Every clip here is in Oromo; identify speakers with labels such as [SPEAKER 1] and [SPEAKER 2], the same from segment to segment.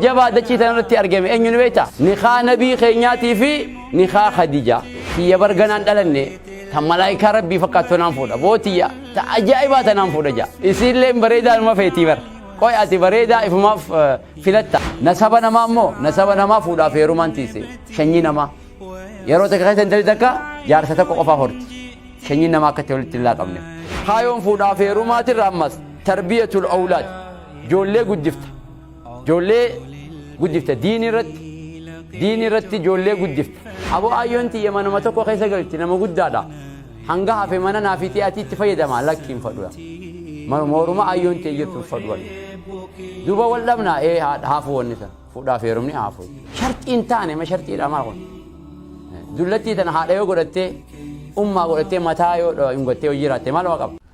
[SPEAKER 1] jabaa dachii tana irratti argame eenyu ni beekta? Nikaa nabii keenyaatii fi nikaa Khadija. Tiyya bar ganaan dhalanne tan malaayikaa rabbii fakkaattu tanaan fuudha. Boo tiyya ta ajaa'ibaa tanaan fuudha jaa. Isiilleen bareedaa numa feetii bar. Qoy ati bareedaa ifumaaf eh, filatta. Nasaba namaa immoo nasaba namaa fuudhaaf heerumaan tiise. Shanyii namaa. Yeroo takka keessa intalli takka jaarsa tokko qofaa horti. Shanyiin namaa akkatti walitti hin laaqamne. Kaayoon fuudhaaf heerumaatirra ammas tarbiyatul awlaad. Ijoollee guddifta. Ijoollee guddifta diini irratti diini irratti ijoollee guddifta. Aboo aayyoon tiyya manuma tokko keessa galti nama guddaadha. Hanga hafe mana naa fixee ati itti fayyadama lakki hin fadhuya. Mooruma aayyoon tiyya jirtu hin fadhuwan. Duuba wal dhabna ee haafu wanni san fuudhaaf heerumni haafu. Sharxii hin taane ma sharxiidha maa kun. Dullattii tana haadha yoo godhattee ummaa godhattee mataa yoo hin gottee yoo jiraatte maaluma qaba.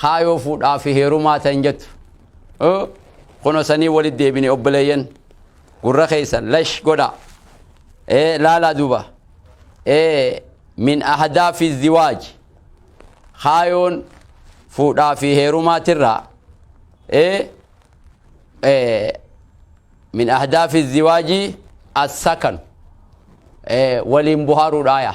[SPEAKER 1] kaayoo fuudhaa fi heerumaa ta'in jettu kuno sanii walitti deebine obboleeyyan gurra keessan lash godha laalaa duuba min ahadaa fi ziwaaj kaayoon fuudhaa fi heerumaatirraa min ahadaa fi ziwaajii assakan waliin buhaaruudhaaya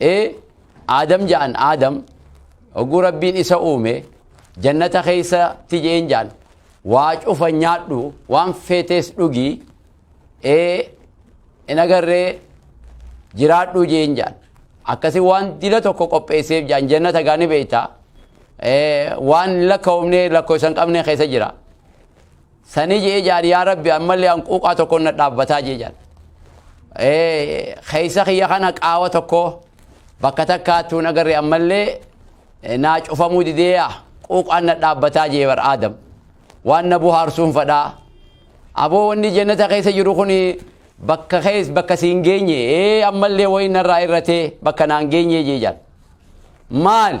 [SPEAKER 1] ee aadam ja'an aadam oguu rabbiin isa uume jannata keessatti je'een ja'an waa cufa nyaadhu waan feetees dhugii ee hin agarree jiraadhu je'een ja'an akkasi waan dila tokko qopheesseef ja'an jannata gaani beeyta ee waan lakkaa'umne lakkoo isan qabne keessa jira Sanii je'ee jaan yaa rabbi ammallee hanquuqaa tokkoon na dhaabbataa jee jaan. Eh, Keessa kiyya kana qaawa tokko bakka takkaattuu nagarre ammallee eh, naa cufamuu didee yaa quuqaan na dhaabbataa jee bar aadam. Waan na buhaarsuun fadhaa. Aboo wanni jannata keessa jiru kun bakka kees bakka siin geenye ee ammallee wayi narraa irratee bakka naan geenye jee jaan. Maali?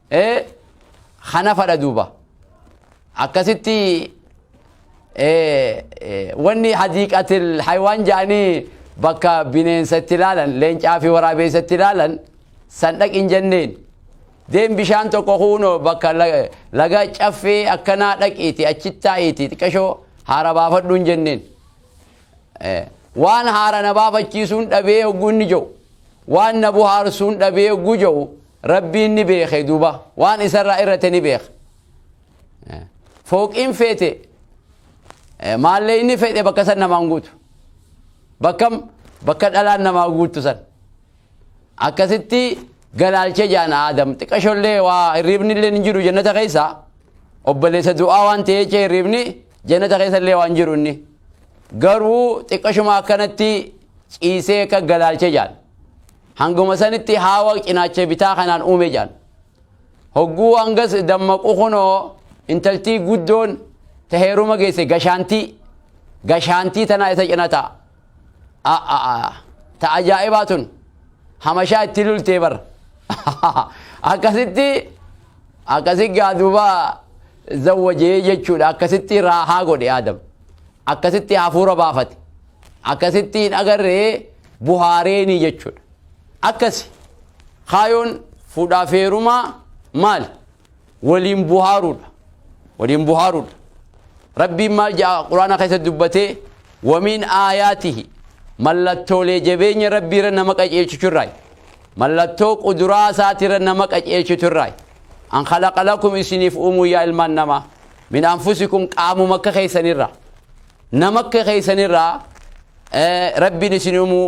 [SPEAKER 1] ee hanafadha duuba akkasitti wanni hadiiqatil haywaan ja'anii bakka bineensa itti ilaalan leencaa fi waraabeessa itti ilaalan san dhaqin jenneen deem bishaan tokko kuunoo bakka laga caffee akkanaa dhaqiiti achittaa'iiti xiqqashoo haara baafadhuun jenneen waan haara na baafachiisuun dhabee hogguu inni ja'u waan na buhaarsuun dhabee hogguu ja'u rabbiin ni beeke duuba waan isarraa irrate ni beeka fooqiin feete maallee inni fedhe bakka san namaan guutu bakka bakka dhalaan namaa guutu san Akkasitti galaalche jaan Aadam xiqashollee waa hirriibnilleen hin jiru jannata keessa obboleessa du'aa waan ta'ee jechee hirriibni jannata keessallee waan jiru inni garuu xiqqashuma akkanatti ciisee akka galaalche jaan hanguma sanitti haawa cinaacha bitaa kanaan uume jaan hogguu hangas dammaqu kunoo intaltii guddoon ta heeruma geesse gashaantii gashaantii tanaa isa cina ta'a A'aa ta ajaa'ibaa tun hamashaa itti lultee bar akkasitti akkasi gaa duuba zawwajee jechuudha akkasitti raahaa godhe aadam akkasitti hafuura baafate akkasitti hin agarree buhaareenii jechuudha akkasi kaayoon fuudhaa feerumaa maal waliin buhaaruudha waliin buhaaruudha rabbiin maal jedha quraana keessa dubbatee wamiin aayaatihi mallattoolee jabeenya rabbii irra nama qajeelchitu irraa mallattoo quduraa isaati irra nama qajeelchitu irraa an khalaqa lakum isiniif uumuu yaa ilmaan namaa min anfusikum qaamuma akka keessanirraa nama akka keessanirraa rabbiin isin uumuu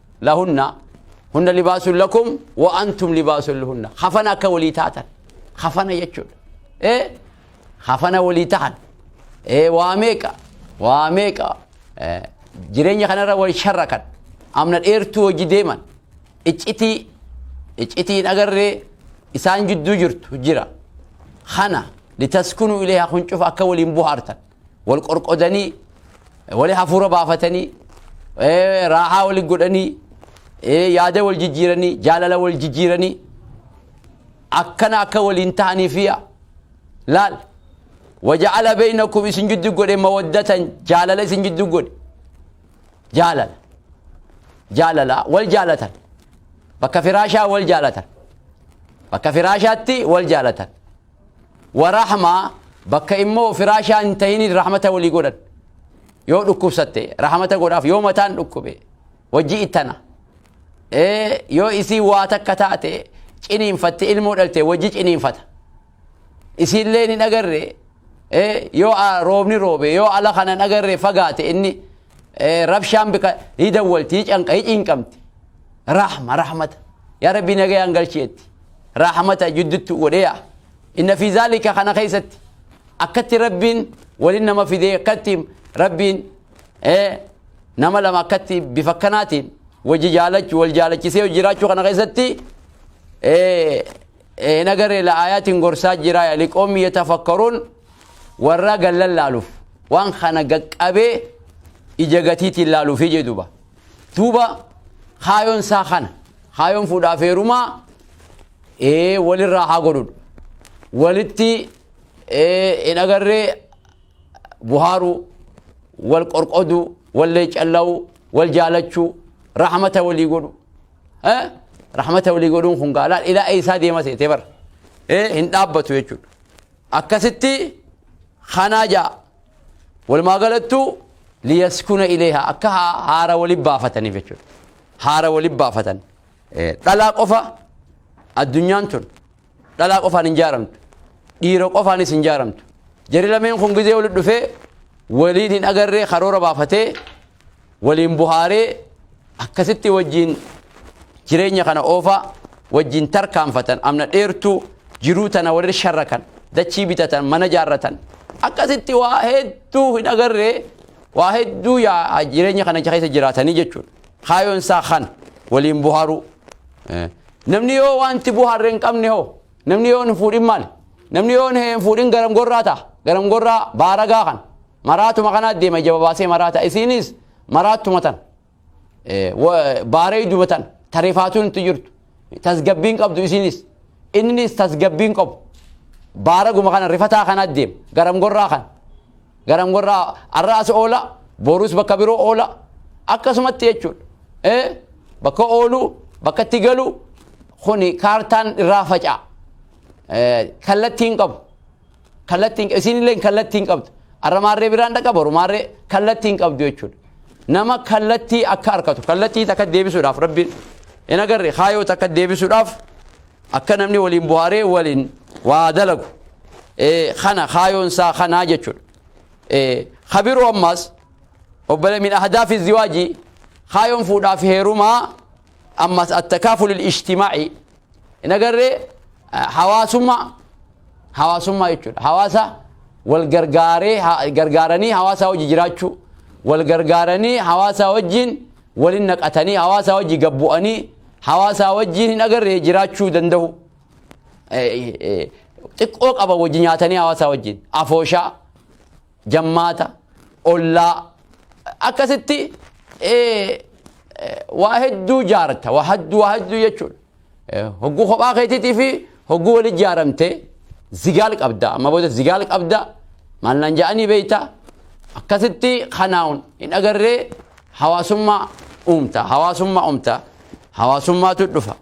[SPEAKER 1] lahunna hunna libaasun lakum wa antum libaasun lahunna kafana akka walii taatan kafana jechuudha ee kafana walii tahan ee waa meeqa waa meeqa ee, jireenya kanarra wal sharrakan amna dheertuu hojii deeman iccitii iccitii hin agarree isaan jidduu jirtu jira kana litaskunu ilayha kun cufa akka waliin buhaartan wal qorqodanii wali hafuura baafatanii eh, raahaa wali godhanii eh, yaada wal jijjiiranii jaalala wal jijjiiranii akkana akka waliin ta'anii fiya laal waja'ala beeynakum isin jiddu godhe mawaddatan jaalala isin jiddu godhe jaalala jaalala wal jaalatan bakka firaashaa wal jaalatan bakka firaashaatti wal jaalatan Wa rahma, bakka immoo firaashaa hin tahiniin rahmata walii godhan. Yoo dhukkubsatte rahmata godhaaf yoo mataan dhukkube wajji ittana. Ee yoo isii waa takka taate ciniinfatte ilmoo dhalte wajji ciniinfata. Isiillee hin agarre ee yoo a- roobni roobe yoo ala kana hin agarre fagaate inni ee, rabshaan bika hidawwalti hicanqa hicinqamti. Rahma rahmata. Yaa rabbii nagayaan galcheetti. rahmata jiddutti godheeya inna fi zaalika kana keessatti akkatti rabbiin walin nama fidee akkatti rabbiin eh, nama lama akkatti bifa kanaatiin wajji jaalachu wal jaalachisee jiraachuu kana keessatti eh, eh, hin agarre la'aayaatiin gorsaa jira liqoommi yatafakkaruun warra gallan laaluuf waan kana gaqqabee ija gatiitiin laaluuf jedhuba duuba kaayoon isaa kana Kaayoon fuudhaaf heerumaa ee walirraa haa godhudha. Walitti ee hin agarree buhaaruu, wal qorqoduu, wal leeccalla'uu, wal jaalachuu, rahmata walii godhu. Eh? Rahmata walii godhuun kun gaalaa ilaa eessaa deema seetee bara. Eh? Hin dhaabbatu jechuudha. Akkasitti kanaa ja'a. Walumaa galattuu liyaskuna ileeha akka haa- haara waliin baafataniif jechuudha. haara wali baafatan. Dhalaa qofa addunyaan tun dhalaa qofaan hin jaaramtu. Dhiira qofaanis hin jaaramtu. Jari lameen kun gizee wali dhufee waliin hin agarree karoora baafatee waliin buhaaree akkasitti wajjiin jireenya kana oofaa wajjiin tarkaanfatan amna dheertuu jiruu tana walirra sharrakan dachii bitatan mana jaarratan akkasitti waa hedduu hin agarree Waa hedduu yaa jireenya kana keessa jiraatanii jechuudha. Kaayoon isaa kana waliin buhaaruu. Namni yoo wanti buhaarre hin qabne hoo namni yoo hin fuudhin maali? Namni yoo hin fuudhin garam gorraa ta'a. Garam gorraa baaragaa kan maraatuma kanaa deema ija babaasee maraata. Isiinis maraattuma tan. baaree dubatan tareefaatuun itti jirtu tasgabbiin qabdu isinis innis tasgabbiin qabu baaraguma kana rifataa kana deem garam gorraa kan garam gorraa arraas oola boruus bakka biroo oola akkasumatti jechuudha ee bakka oolu bakka itti galu kuni kaartaan irraa faca'a kallattiin qabu kallattiin isiinillee kallattiin qabdu arra maarree biraan dhaqa boru maarree kallattiin qabdu jechuudha nama kallattii akka arkatu kallattii takka deebisuudhaaf rabbiin hin agarre kaayoo takka deebisuudhaaf akka namni waliin buhaaree waliin waa dalagu kana kaayoon isaa kanaa jechuudha kabiroo ammaas obbole min ahdaafi ziwaajii kaayoon fuudhaaf heerumaa ammaas attakaafulil ishtimaa'i hin agarree hawaasummaa hawaasummaa jechuudha hawaasa wal gargaaree gargaaranii hawaasaa wajji jiraachuu wal gargaaranii hawaasaa wajjiin walin naqatanii hawaasaa wajji gabbu'anii hawaasaa wajjiin hin agarree jiraachuu danda'u xiqqoo qaba wajji nyaatanii hawaasaa wajjiin afooshaa jammaata, ollaa akkasitti eh, eh, waa hedduu jaarta waa hedduu waa hedduu jechuudha. Eh, Hogguu kophaa keetiitii fi hogguu wali jaaramtee zigaal qabda amma booda zigaal qabda maal naan ja'anii beeyta akkasitti kanaa'uun hin agarree hawaasummaa uumta hawaasummaa uumta hawaasummaatu dhufa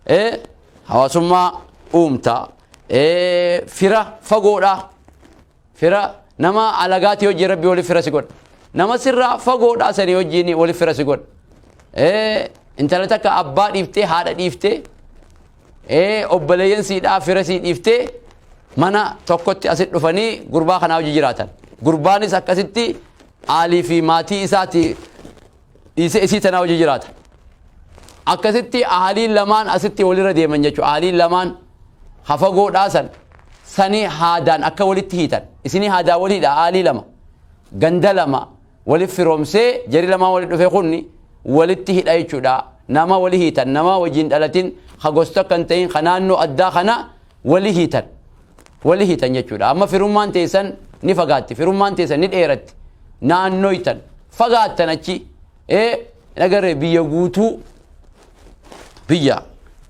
[SPEAKER 1] eh, hawaasummaa uumta eh, fira fagoodhaa Fira nama alagaatii wajjin rabbi wali fira si godha. Nama sirraa fagoodhaa sanii wajjin wali fira si godha. Eh, Intala takka abbaa dhiiftee haadha dhiiftee eh, obboleeyyan siidhaa fira sii dhiiftee mana tokkotti asit dhufanii gurbaa kanaa wajji jiraatan. Gurbaanis akkasitti aalii fi maatii isaati dhiisee isii tanaa hojii jiraata akkasitti ahaliin lamaan asitti walirra deeman jechuudha ahaliin lamaan hafagoo dhaasan sani haadaan akka walitti hiitan isinii haadaa waliidha ahaalii lama ganda lama waliif firoomsee jari lamaan walitti dhufee kunni walitti hidha jechuudha nama wali hiitan nama wajjin dhalatin ha gosta kan ta'in ha naannoo addaa kana wali hiitan wali hiitan jechuudha amma firummaan teessan ni fagaatti firummaan teessan ni dheeratti naannoytan fagaattan achi ee nagarree biyya guutuu biyya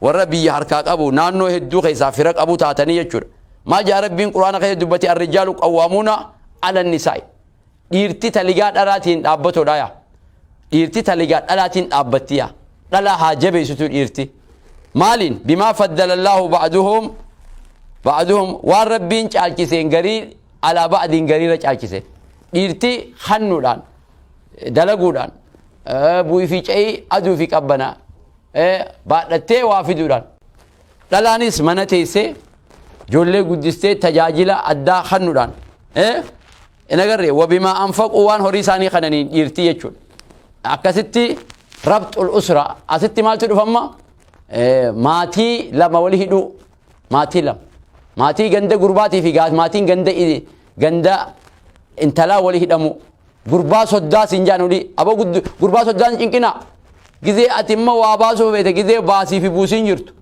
[SPEAKER 1] warra biyya harkaa qabu naannoo hedduu keessaa fira qabu taatanii jechuudha maa jaa rabbiin quraana keessa dubbate arrijaalu qawwaamuuna ala nisaa'i Dhiirti taligaa dhalaatiin dhaabbatodha yaa. Dhiirti taligaa dhalaatiin dhaabbatti yaa. Dhalaa haa jabeessitu dhiirti. Maaliin? Bimaa faddalallaahu ba'aduhum ba'aduhum waan rabbiin caalchiseen garii alaa ba'adiin gariirra caalchise. Dhiirti hannuudhaan dalaguudhaan bu'ii fi ca'ii aduu fi qabbanaa baadhattee waa fiduudhaan dhalaanis mana teessee ijoollee guddistee tajaajila addaa hannuudhaan hin agarre wabimaa anfaquu waan horii isaanii kananiin dhiirtii jechuudha akkasitti rabxul usra asitti maaltu dhufamma Eh, maatii lama wali hidhuu maatii lama maatii ganda gurbaatii fi gaa- maatiin ganda i- ganda intalaa wali hidhamu gurbaa soddaa siin jaan olii aboo guddu- gurbaa soddaan cinqinaa gizee ati immoo waa baasuu feete gizee baasii fi buusiin jirtu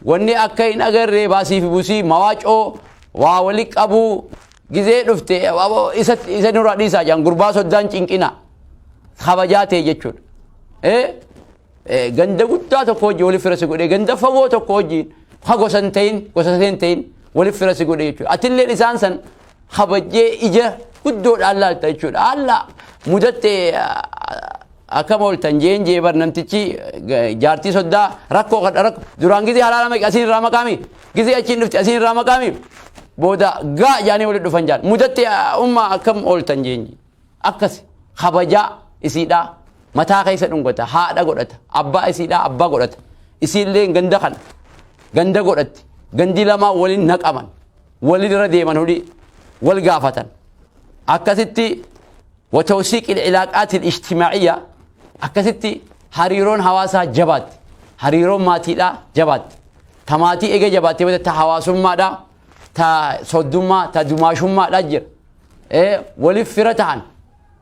[SPEAKER 1] wanni akka hin agarree baasii fi buusii mawaacoo waa wali qabuu Gizee dhufte aboo isa isa nurraa dhiisaa jedhan gurbaa soddaan cinqina kabajaa ta'e jechuudha. Eh? Eh, Ganda guddaa tokko wajjin waliif fira si godhee ganda fagoo tokko wajjin ha gosa hin ta'in gosa hin ta'in waliif fira si godhee jechuudha. Atilleen isaan san kabajjee ija guddoodhaan laalta jechuudha. Haala mudatte akkam ooltan jeen jeebar namtichi eh, jaartii soddaa rakkoo kadha rakkoo duraan gizee halaala maqaa isin irraa maqaami. Gizee achiin dhufti asiin irraa maqaami booda gaa jaanii walitti dhufan jaan. Mudatti ummaa akkam ooltan jeenyi. Akkas kabajaa isiidhaa mataa keessa dhungata haadha godhata abbaa isiidhaa abbaa godhata isiillee ganda kana ganda godhatti gandi lamaa waliin naqaman waliin irra deeman hudhii wal gaafatan akkasitti watawsiiq ilaaqaatiin ijtimaaciyyaa akkasitti hariiroon hawaasaa jabaatti hariiroon maatiidhaa jabaatti Ta maatii eega jabaattee booda ta hawaasummaadha, ta soddummaa, ta dumaashummaadha jira. Eh, Waliif fira tahan.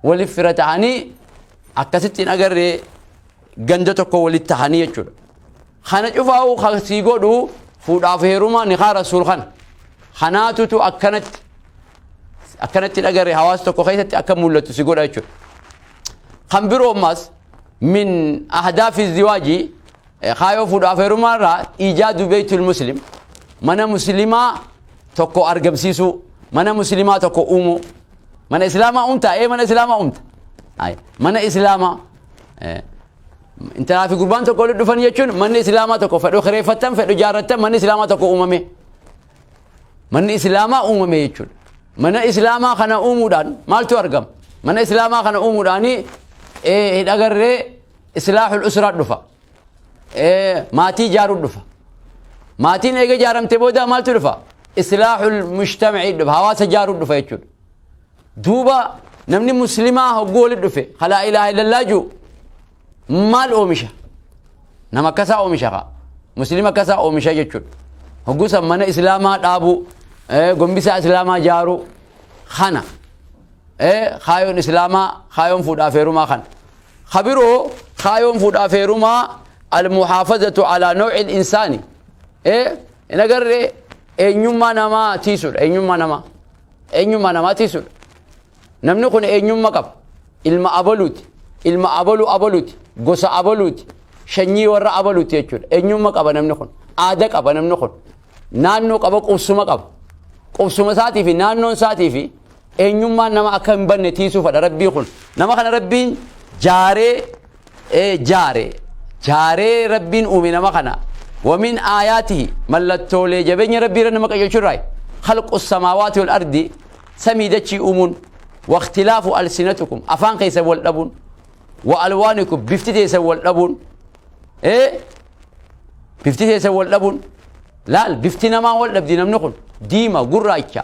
[SPEAKER 1] Waliif fira tahanii akkasitti hin agarree ganda tokko walitti tahanii jechuudha. Kana cufaa'uu kan sii godhu fuudhaaf heerumaa nikaa rasuul kana. Kanaatutu akkanatti akkanatti hin agarree hawaasa tokko keessatti akka mul'atu si godha jechuudha. Kan biroo ammas min ahdaafi ziwaajii Kaayoo fuudhu afeerumaa irraa ijaadu beeytul muslim mana muslimaa tokko argamsiisuu mana muslimaa tokko uumuu mana islaamaa uumta ee mana islaamaa uumta Ay, mana islaamaa eh, intalaa fi gurbaan tokko walitti dhufan jechuun manni islaamaa tokko fedhu kireeffattan fedhu jaarrattan manni islaamaa tokko uumame manni islaamaa uumame jechuudha mana islaamaa kana uumuudhaan maaltu argama mana islaamaa kana uumuudhaanii eh, hidhagarree islaahul usra dhufa Eh, maatii ijaaruu dhufa maatiin eega ijaaramte booda maaltu dhufa islaahul mujtamacii dhufa hawaasa ijaaruu dhufa jechuudha duuba namni muslimaa hogguu wali dhufe kalaa ilaaha illallaa juu maal oomisha nama akkasaa oomisha kaa muslima akkasaa oomisha jechuudha hogguusan mana islaamaa dhaabuu eh, gombisaa islaamaa jaaruu kana eh, kaayoon islaamaa kaayoon fuudhaaf heerumaa kana Ka biroo kaayoon fuudhaaf heerumaa al-muhaafazatu alaa naw'il insaani. Eh, hin agarre eenyummaa namaa tiisudha. Eenyummaa namaa. Eenyummaa namaa tiisudha. Namni kun eenyummaa qaba. Ilma abaluuti. Ilma abaluu abaluuti. Gosa abaluuti. Shanyii warra abaluuti jechuudha. Eenyummaa qaba namni kun. Aada qaba namni kun. Naannoo qaba qubsuma qaba. Qubsuma isaatii fi naannoon isaatii fi eenyummaan nama akka hin banne tiisuufadha rabbii kun nama kana rabbiin jaaree ee, jaare jaaree rabbiin uume nama kana wamin aayaatihi mallattoolee jabeenya rabbii irra nama qajeelchu irraa khalqu samaawaati wal ardi samii dachii uumuun waktilaafu alsinatukum afaan keessan wal dhabuun wa alwaanikum bifti teessan wal dhabuun ee bifti teessan wal dhabuun laal bifti namaa wal dhabdi namni kun diima gurraacha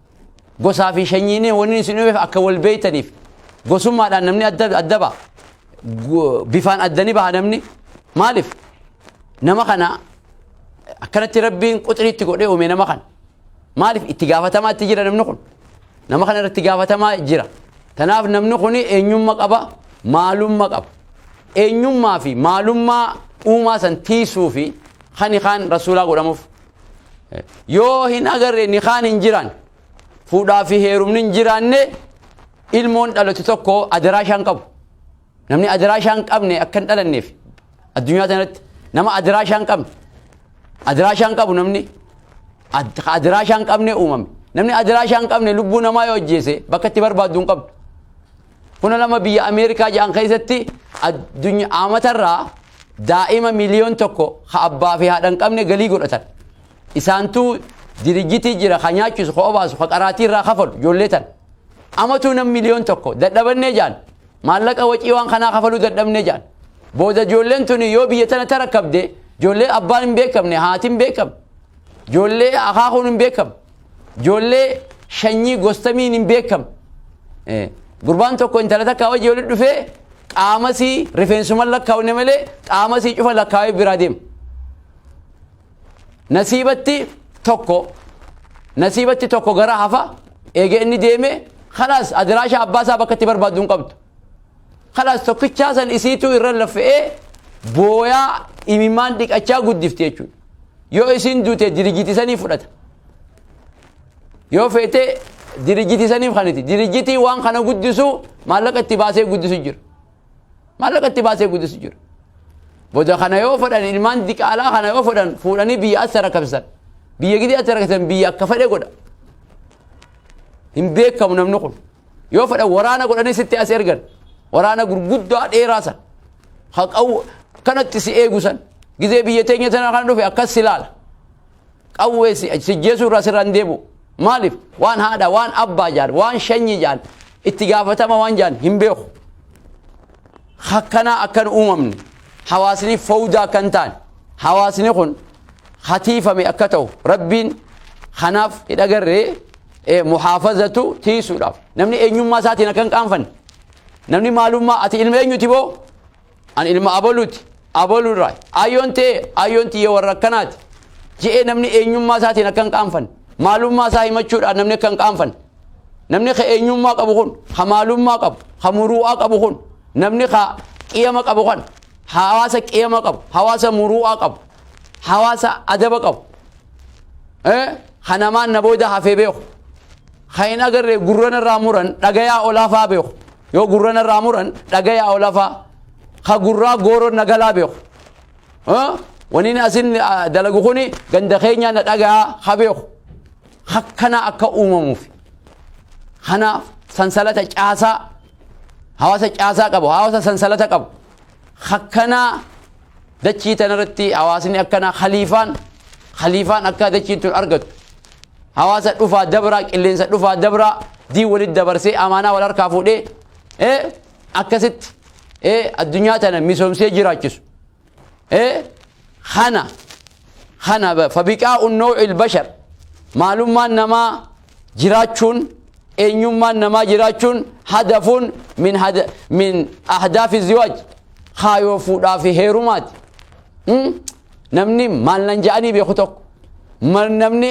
[SPEAKER 1] Gosaa fi shanyiin wanni isin uumeef akka wal beeytaniif gosummaadhaan namni adda adda ba'a. Gu- Bifaan adda ni baha namni. Maaliif? Nama kana akkanatti rabbiin quxiriitti godhee uume nama kana. Maaliif itti gaafatamaa itti jira namni kun? Nama kana irratti gaafatamaa jira. Tanaaf namni kun eenyummaa qaba, maalummaa qaba. Eenyummaa fi maalummaa uumaa san tiisuu fi kan kaan rasuulaa godhamuuf. yoo hin agarre nikaan hin jiraan fuudhaa fi heerumni hin jiraanne ilmoon dhalatu tokko adaraa ishaan qabu namni adaraa ishaan qabne akka hin dhalanneef addunyaa tanatti nama adaraa ishaan qabne adaraa ishaan qabu namni ad- adaraa ishaan qabne uumame namni adaraa ishaan qabne lubbuu namaa yoo ajjeese bakka itti barbaaddu hin qabdu Huna lama biyya Ameerikaa ja'an keessatti addunyaa aamatarraa daa'ima miliyoon tokko ha abbaa fi haadha hin qabne galii godhatan. Isaantu dirijjitii jira ha nyaachisu ha obaasu ha qaraatii irraa kafalu ijoollee tan. Amatuu nam miliyoon tokko dadhabannee jaan maallaqa wacii waan kanaa kafaluu dadhabnee jaan. Booda ijoolleen tuni yoo biyya tana tarakkabde ijoollee abbaan hin beekamne haatiin beekamne. Ijoollee akaakuun hin beekamne. Ijoollee shanyii gostamiin hin beekam. Gurbaan tokko intala takkaa wajji walitti dhufee qaamasii rifeensuman lakkaawne malee qaamasii cufa lakkaawee biraa deema. Nasiibatti tokko nasiibatti tokko gara hafa eega inni deeme kalaas adiraasha abbaa isaa bakka itti barbaaddu hin qabdu. Kalaas tokkichaa san isiituu irra laffa'ee booyaa imimmaan dhiqachaa guddifti jechuudha. Yoo isiin duute dirijiti sanii fudhata. Yoo feete dirijiti saniif kaniti. Dirijitii waan kana guddisu maallaqa itti baasee guddisu jira. Maallaqa itti baasee guddisu jira. Boda kana yoo fudhan ilmaan diqaalaa kana yoo fudhan fuudhanii biyya as rakabsan. Biyya gidi as rakabsan biyya akka fedhe godha. Hin beekamu namni kun. Yoo fedhan waraana godhanii sitti as ergan. Waraana gurguddaa dheeraa san. Haqawu kanatti si eegu san gizee biyya teenya tana kana dhufe akkas si laala. Qawwee si sijjeesuu irraa sirraa hin deebu. Maaliif waan haadha waan abbaa jaan waan shanyii jaan itti gaafatama waan jaan hin beeku. Hakkanaa akkan uumamne hawaasni fowdaa akkan taane hawaasni kun hatiifame akka ta'u rabbiin kanaaf hidhagarree muhaafazatu tiisuudhaaf namni eenyummaa isaatiin akka hin qaanfanne Namni maalummaa ati ilma eenyuti boo? Ani ilma abaluuti, abaluu irraa. Aayyoon tee, aayyoon tiyya warra akkanaati. Je'ee namni eenyummaa isaatiin akka hin qaanfanne. Maalummaa isaa himachuudhaan namni akka hin qaanfanne. Namni ka eenyummaa qabu kun, ka maalummaa qabu, ka muruu'aa qabu kun, namni ka qiyama qabu kan, hawaasa qiyama qabu, hawaasa muruu'aa qabu, hawaasa adaba qabu. Eh, ka namaan na booda hafee beeku. Kan hin agarre gurra narraa muran dhagayaa olaa fa'aa beeku. Yoo gurra narraa muran dhagayaa olaa fa'aa. Ka gurraa gooroon na galaa beeku. Waniin asin dalagu kun ganda keenyaa na dhagayaa ha beeku. Akkanaa akka uumamuuf. Kanaaf sansalata caasaa hawaasa caasaa qabu hawaasa sansalata qabu. Akkanaa Dachii tana irratti hawaasni akkanaa khaliifaan khaliifaan akka dachiin tun argattu hawaasa dhufaa dabraa qilleensa dhufaa dabraa diin walitti dabarsee amaanaa wal harkaa fuudhee ee akkasitti ee addunyaa tana misoomsee jiraachisu ee kana Kana fabiqaa'u naw'il bashar maalummaan namaa jiraachuun eenyummaan namaa jiraachuun hadafuun min hada min ahdaafi ziwaaj kaayoo fuudhaa fi heerumaati. Mm? Namni maal nan ja'anii beeku tokko mal namni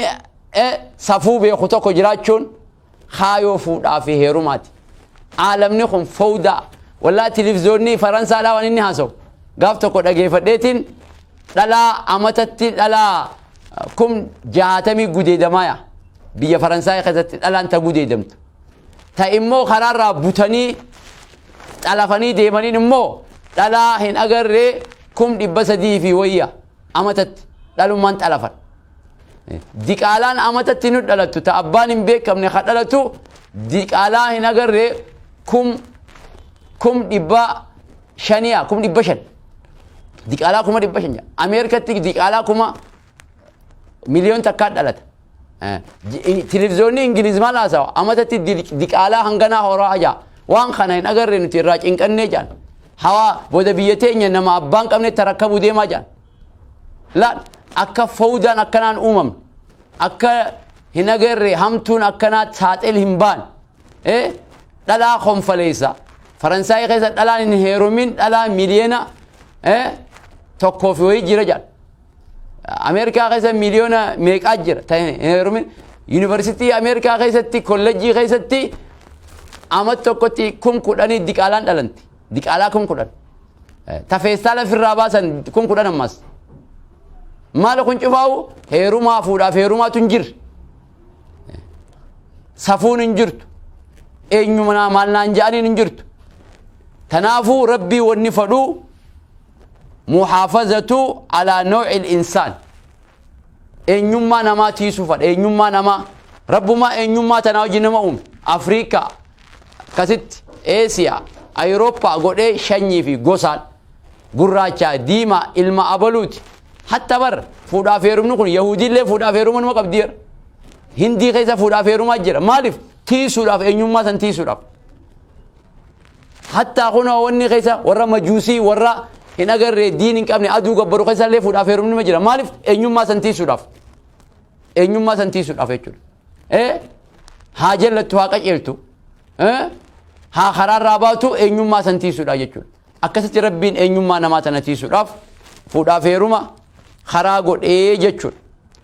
[SPEAKER 1] eh, safuu beeku tokko jiraachuun kaayoo fuudhaa fi heerumaati. Aalamni kun fowdaa. Wallaa tilivzoonnii Faransaadhaa waan inni haasawu. Gaaf tokko dhageeffadheetiin dhalaa amatatti dhalaa kum jahaatamii gudeedamaaya. Biyya Faransaay keessatti dhalaan ta gudeedamtu. Ta immoo karaarraa butanii xalafanii deemaniin immoo dhalaa hin agarree kum dhibba sadii fi wayya amatatti dhalummaan xalafan. Diqaalaan amatatti nu dhalattu ta abbaan hin beekamne ka dhalatu diqaalaa hin agarre kum kum dhibba shaniya kum dhibba shan diqaalaa kuma dhibba shan ameerikatti diqaalaa kuma miliyoon takkaa dhalata televiziyoonni ingiliz maal haasawa amatatti diqaalaa hanganaa horaa ajaa waan kana hin agarre nuti irraa cinqannee jaan hawaa booda biyya teenya nama abbaan qabne tarakkabu deemaa jaan laal akka fowdaan akkanaan uumamne akka hin agarre hamtuun akkanaa saaxil hin baane ee dhalaa konfaleessa faransaayii keessa dhalaan hin heerumin dhalaa miliyoona ee tokkoo fi wayii jira jedha ameerikaa keessa miliyoona meeqaa jira ta hin heerumin yuunivarsiitii ameerikaa keessatti kollejjii keessatti amat tokkotti kum kudhanii diqaalaan dhalanti diqaalaa kun kudhan tafeessaa lafirraa baasan kun kudhan ammas maala kun cufaa'u heerumaa fuudhaaf heerumaatu hin jirre safuun hin jirtu eenyu manaa maal naan ja'aniin hin jirtu tanaafuu rabbii wanni fadhuu muhaafazatu alaa nawci insaan eenyummaa namaa tiisuufadha eenyummaa namaa rabbumaa eenyummaa tanaa hojii nama uume afriikaa akkasitti eesiyaa ayirooppaa godhee shanyii fi gosaan gurraachaa diimaa ilma abaluuti hatta bar fuudhaaf heerumni kun yahudiillee fuudhaaf heeruma numa qabdi jedha hindii keessa fuudhaaf heerumaa jira maaliif tiisuudhaaf eenyummaa san tiisuudhaaf Hattaa kunoo wanni keessa warra majuusii warra hin agarre diin hin qabne aduu gabbaru keessa illee fuudhaaf heerumni ma jira maaliif eenyummaa san tiisuudhaaf eenyummaa san tiisuudhaaf jechuudha. Eh? Haa jallattu haa qajeeltu eh? haa karaarraa baatu eenyummaa san tiisuudhaaf jechuudha. Akkasitti rabbiin eenyummaa namaa tana tiisuudhaaf fuudhaaf heeruma karaa godhee jechuudha.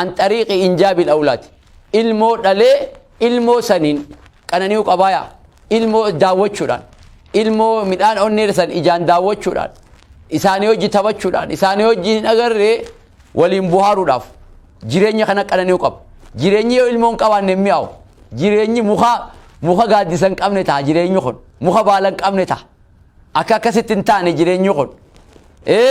[SPEAKER 1] an xariiqi injaabil awlaad ilmoo dhalee ilmoo saniin qanani'uu qabaaya ilmoo daawwachuudhaan ilmoo midhaan onnee san ijaan daawwachuudhaan isaanii hojii taphachuudhaan isaanii hojii hin agarree waliin buhaaruudhaaf jireenya kana qanani'uu qaba jireenyi yoo ilmoon qabaanne hin mi'aawu jireenyi muka muka gaaddisa hin qabne ta'a jireenyi kun muka baala hin qabne ta'a akka akkasitti hin taane jireenyi kun ee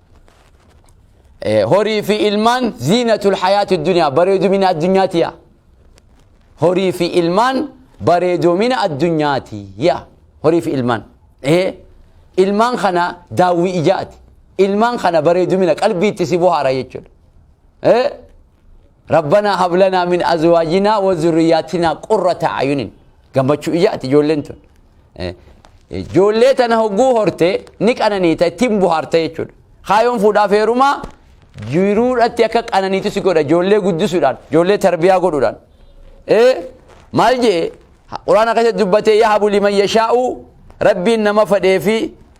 [SPEAKER 1] horii fi ilmaan ziinatul hayaati duniyaa bareedumina addunyaati yaa horii fi ilmaan bareedumina addunyaati yaa horii fi ilmaan ee ilmaan kana daawwii ijaati ilmaan kana bareedumina qalbiitti si bohaara jechuudha ee Rabbanaa hab lanaa min azwaajinaa wa zurriyaatinaa qurrata a'yunin. Gammachuu ijaati ijoolleen tun. Eh, eh, Ijoollee tana hogguu horte ni qananiita ittiin buhaarta jechuudha. Kaayoon fuudhaaf heerumaa jiruudhatti akka qananiitu si godha ijoollee guddisuudhaan ijoollee tarbiyaa godhuudhaan. Eh, Maal jee quraana keessatti dubbatee yahabu liman yashaa'u rabbiin nama fadhee fi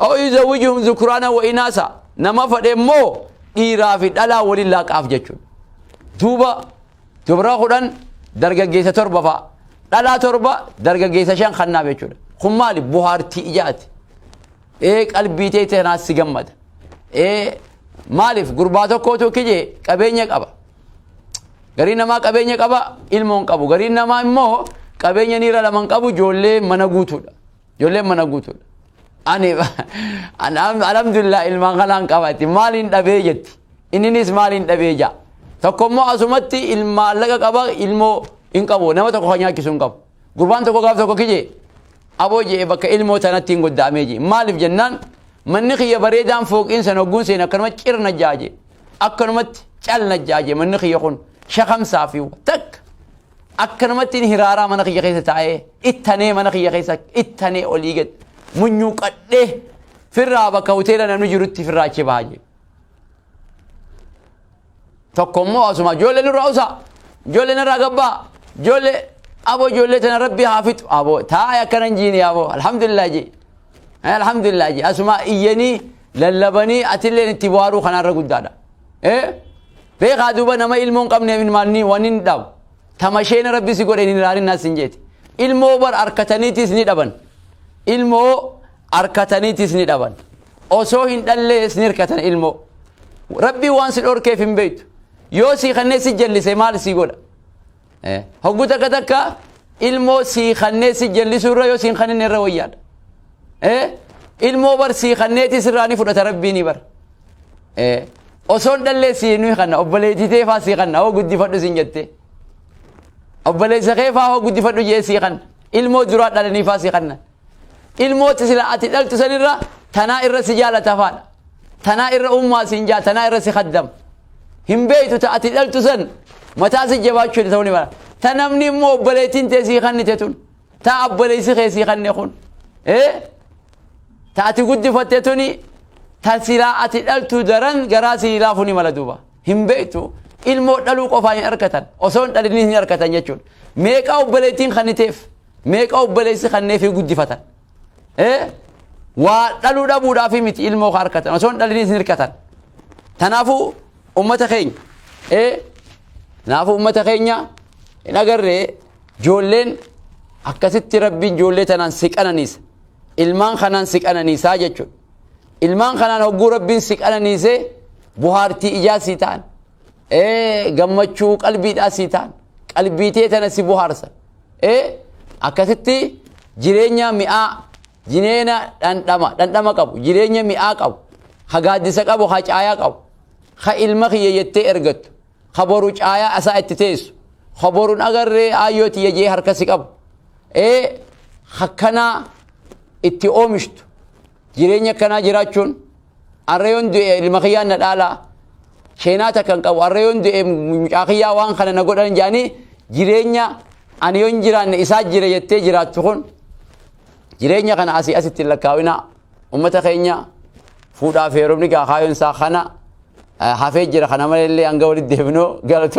[SPEAKER 1] Aw yuzawijuhum zukuraanan wa inaasa nama fadhe immoo dhiiraa fi dhalaa waliin laaqaaf jechuudha. Duuba dubra kudhan dargaggeessa torba fa'a. Dhalaa torba dargaggeessa shan kannaaf jechuudha. Kun maali buhaartii ijaati. Ee qalbii ta'e tanaas si gammada. Ee maaliif gurbaa tokkootu kije qabeenya qaba. Garii namaa qabeenya qaba ilmoon qabu. Garii namaa immoo qabeenya niira laman qabu ijoollee mana guutuudha. Ijoolleen mana guutuudha. Ani alhamdulillah ilmaan kanaan qabaatti maaliin dhabee jetti. Inninis maaliin dhabee jaa. Tokko immoo asumatti ilmaa laga qaba ilmoo hin qabu nama tokko kan nyaachisu hin qabu. Gurbaan tokko gaaf tokko kijee aboo jee bakka ilmoo tanatti hin goddaamee jee. Maaliif jennaan manni kiyya bareedaan fooqiin san hogguun seen akkanuma cirna jaaje akkanumatti calna jaaje manni kiyya kun shakamsaa fi takka Akkanumattiin hiraaraa mana kiyya keessa taa'ee ittanee mana kiyya keessa ittanee olii gad munyuuqadhee firraa bakka hoteela namni jirutti firraa achi bahaa jiru. Tokko immoo asuma ijoollee nurraa usaa ijoollee narraa gabbaa ijoollee aboo ijoollee tana rabbi haa fixu aboo taa'e akkanan jiini aboo alhamdulillah jee alhamdulillah jee asuma iyyanii lallabanii atilleen itti bu'aaruu kanaarra guddaadha. Eh? Beekaa duuba nama ilmoon qabneef ilmaanni waan hin dhabu. Tamasheen rabbi si godhe hin ilaalin naas hin jeeti. Ilmoo bar arkataniitis ni dhaban. Ilmoo arkataniitis ni dhaban. Osoo hin dhallees ni hirkatan ilmoo. Rabbi waan si dhorkeef hin beektu. Yoo si kanneen si jallise maal si godha? hoggu takka takka ilmoo sii kannee si jallisuu irra yoo siin kanin irra wayyaadha ilmoo bar sii kanneeti sirraa ni fudhata rabbiini bar osoon dhallee sii nuyi kanna obboleetitee faa sii kanna hoo guddifadhu siin jettee obboleessa kee faa hoo guddifadhu jee sii kanna ilmoo duraa dhalanii faa sii kanna ilmooti sila ati dhaltu san irra tanaa irra si jaalata afaadha tanaa irra ummaa siin jaa tanaa irra si kaddama hin beeytu ta ati dhaltu san mataa si jabaachuu hin ta'uu ni mala ta namni immoo obboleettiin tee sii kannite tun ta abboleessi kee sii kanne kun ee ta ati guddifatte tuni ta silaa ati dhaltu daran garaa sii laafu ni mala duuba hin beeytu ilmoo dhaluu qofaa hin arkatan osoo hin dhalin hin arkatan jechuudha meeqaa obboleettiin kanniteef meeqa obboleessi kanneefii guddifatan ee waa dhaluu dhabuudhaafii miti ilmoo kaa harkatan osoo hin dhaliniis hin hirkatan tanaafuu ummata keenya ee kanaafuu ummata keenya hin agarree joolleen akkasitti rabbiin joollee tanaan si qananiisa ilmaan kanaan si qananiisaa jechuudha ilmaan kanaan hogguu rabbiin si qananiisee buhaartii ijaa si ta'an ee gammachuu qalbiidhaa si ta'an qalbiitee tana si buhaarsa ee akkasitti jireenya mi'aa jireenya dhandhama dhandhama qabu jireenya mi'aa qabu ha gaaddisa qabu ha caayaa qabu ha ilma kiyya jettee ergattu ha boru caayaa asaa itti teessu ha borun agarree aayyoo tiyya jee harkasi qabu ee hakkanaa itti oomishtu Jireenya akkanaa jiraachuun arra yoon du'e ilma kiyyaan na dhaalaa sheenaa takka hin qabu arra yoon du'e mucaa kiyyaa waan kana na godhan jedhanii jireenya ani yoon jiraanne isaa jira jettee jiraattu kun jireenya kana asii asitti hin lakkaawina ummata keenya fuudhaa fi heerumni gaakaayoon isaa kana eh, hafee jira kana malee illee hanga walitti deebinoo galatoo